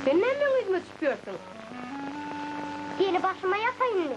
Sen näme meň yzyma düşüp ýörsüň? Seni başyma ýapaýynmy?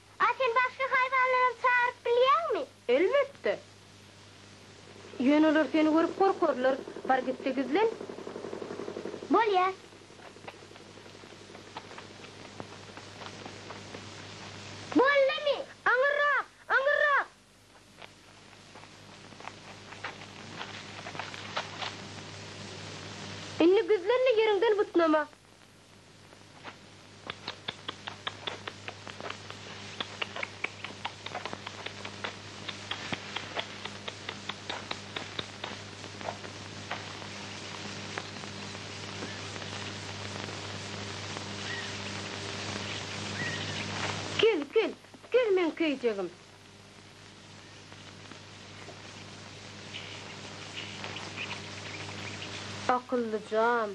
A sen başga haýwanlaram çagyryp bilýäňmi? Elbetde. Ýöne olar seni görüp gorkarlar. Bar git-de gizlen. Bolýar. Boldumy? Aňyrrak! Aňyrrak! Indi güzlenli ýeriňden butnama. Gül, gül, gül meň köýjegim. Akyllyjam.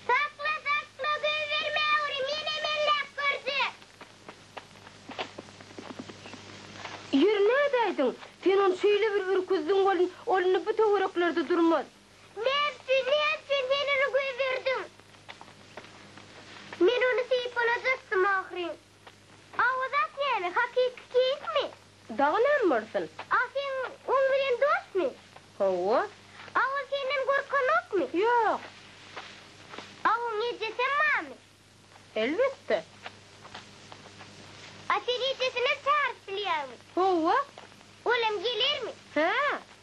Sakla sakla göýber Mäwri menem elläp görjek. Ýeri nädäýdiň? Sen ony şeýle bir ürküzdiň welin, ol indi bu töwereklerde durmaz. Näme üçin, näme üçin sen ony göýberdiň? Men ony söýüp bolajakdym ahyryn. Awazat näme, hakyky keýikmi? Dagy nämbolsun? A seň oň bilen dostmy? Hawa. A ol senden gorkanokmy? Ýok. A oň ejesem barmy? Elbetde. A sen ejesinem çaryp bilýäňmi? Hawa. Olam gelermi? Hä.